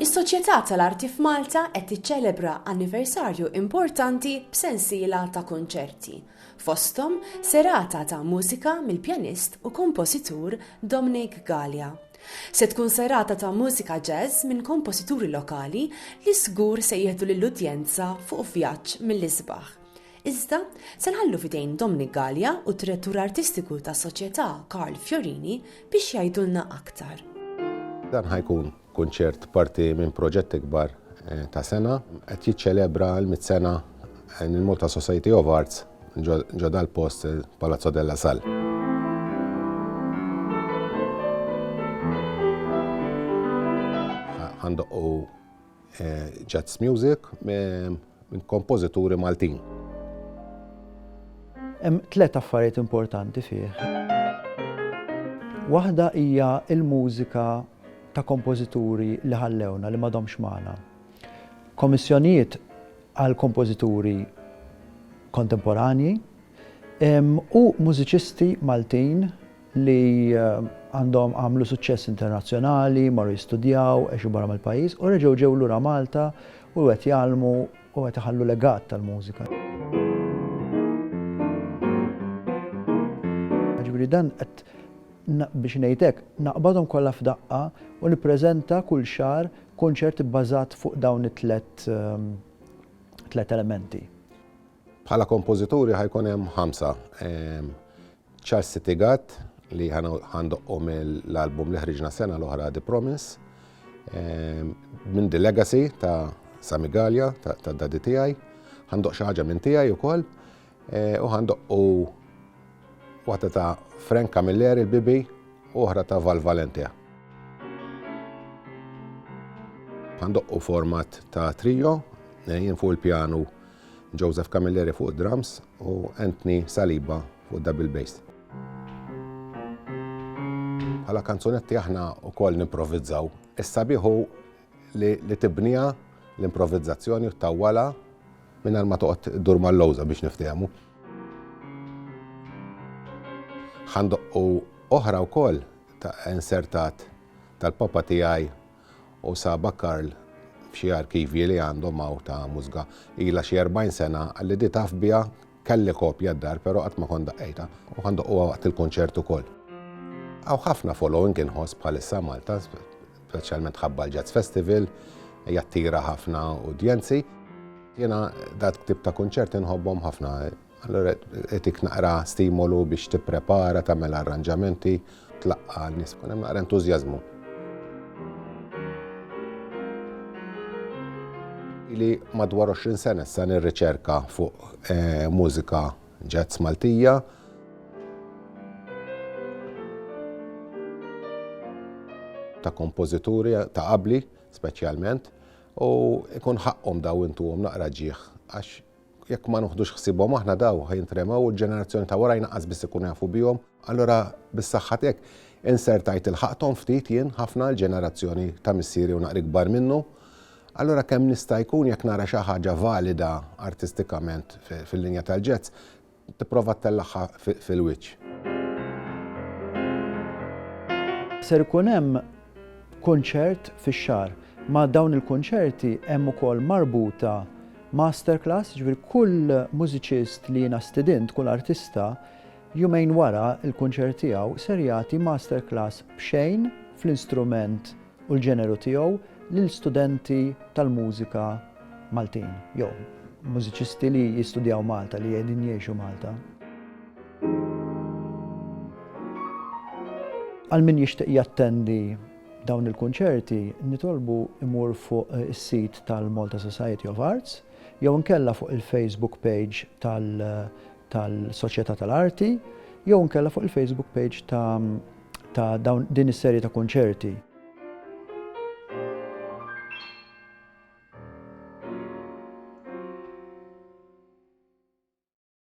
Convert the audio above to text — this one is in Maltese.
Is-Soċjetà tal-Arti f'Malta qed tiċċelebra anniversarju importanti b'sensiela ta' kunċerti, fosthom serata ta' mużika mill-pjanist u kompożitur Dominic Galea. Se tkun serata ta' mużika jazz minn kompożituri lokali li żgur se jieħdu lill-udjenza fuq vjaġġ mill-isbaħ. Iżda, se nħallu f'idejn Dominic Galea u d-Direttur Artistiku tas-Soċjetà Karl Fiorini biex jgħidulna aktar. Dan ħa jkun kunċert parti minn proġett ikbar ta' sena qed jiċċelebra l-mitt sena l-Malta Society of Arts ġo dal-post Palazzo della Salle. and the O jazz music minn kompożituri Maltin. Hemm tliet affarijiet importanti fih. Waħda hija l-mużika ta' kompożituri li ħallewna li m'għadhomx magħna. Kommissjonijiet għal kompożituri kontemporanji u mużiċisti Maltin li għandhom għamlu suċċess internazzjonali, marru jistudjaw, għexu barra mill-pajjiż u reġgħu ġew lura Malta u qed jgħallmu u qed iħallu legat tal-mużika. Ġifieri dan qed biex ngħid hekk, naqbadhom kollha f'daqqa u nippreżenta kull xahar kunċert ibbażat fuq dawn it-tliet ehm, tliet elementi. Bħala kompożituri ħajkun hemm ħamsa. Ehm, Charles Sitigat li ħa ndoqqu mill-album li ħriġna sena l-oħra The Promise ehm, minn The Legacy ta' Sami Gallia ta' dadi tiegħi, ħandoq xi ħaġa minn tiegħi wkoll eh, u ħandoqqu waħda ta' Frank Camilleri l-Bibi u oħra ta' Val Valentia. Ħandoqqu format ta' trio, eh, jien fuq il-pjanu Joseph Camilleri fuq drums u Anthony Saliba fuq double bass. Bħala kanzunetti aħna wkoll nimprovizzaw. Is-sabiħ hu li tibniha l-improvizzazzjoni u ttawwalha mingħajr ma toqgħod iddur mal-lowża biex niftehmu. Ħa ndoqqu oħra wkoll ta' insertat tal-papa tiegħi U saba Karl f'xi arkivji li għandhom hawn ta' mużga ilha xi erbgħin sena, qalli di taf biha, kelli kopja d-dar però qatt ma kont daqqejtha u ħa ndoqquha waqt il-kunċert ukoll. Hawn ħafna following inħoss bħalissa Malta, speċjalment ħabba l-Jazz Festival, jattira ħafna udjenzi. Jiena dat tip ta' kunċerti nħobbhom ħafna. Allura etik naqra stimolu biex tipprepara, tagħmel arranġamenti, tlaqqa' n-nies ikun hemm naqra entużjażmu. Ili madwar 20 sena issa nirriċerka fuq eh, mużika ġazz Maltija. ta' kompożituri ta' qabli speċjalment u ikun ħaqqhom daw intuhom naqra ġieħ għax Jekk ma nuħdux ħsiebhom aħna daw ħa jintremew u l-ġenerazzjoni ta' warajn aqqas biss ikunu jafu bihom. Allura bis-saħħa tiegħek insertajt ilħaqthom ftit jien ħafna l-ġenerazzjoni ta' missieri u naqra ikbar minnu. Allura kemm nista' jkun jekk nara xi ħaġa valida artistikament fil-linja tal-jazz, Tipprova ttellagħha fil-wiċċ. Ser ikun hemm kunċert fix-xahar. Ma' dawn il-kunċerti hemm ukoll marbuta masterclass, jiġifieri kull mużiċist li jiena stidint, kull artista, jumejn wara l-kunċert tiegħu ser jagħti masterclass b'xejn fl-instrument u l-ġeneru tiegħu lil studenti tal-mużika Maltin jew mużiċisti li jistudjaw Malta, li qegħdin jgħixu Malta. Għal min jixtieq jattendi dawn il-kunċerti, nitolbu imur fuq eh, is-sit tal-Malta Society of Arts jew nkella fuq il-Facebook page tal-Soċjetà tal-Arti jew nkella fuq il-Facebook page ta' ta' dawn din is-serje ta' kunċerti.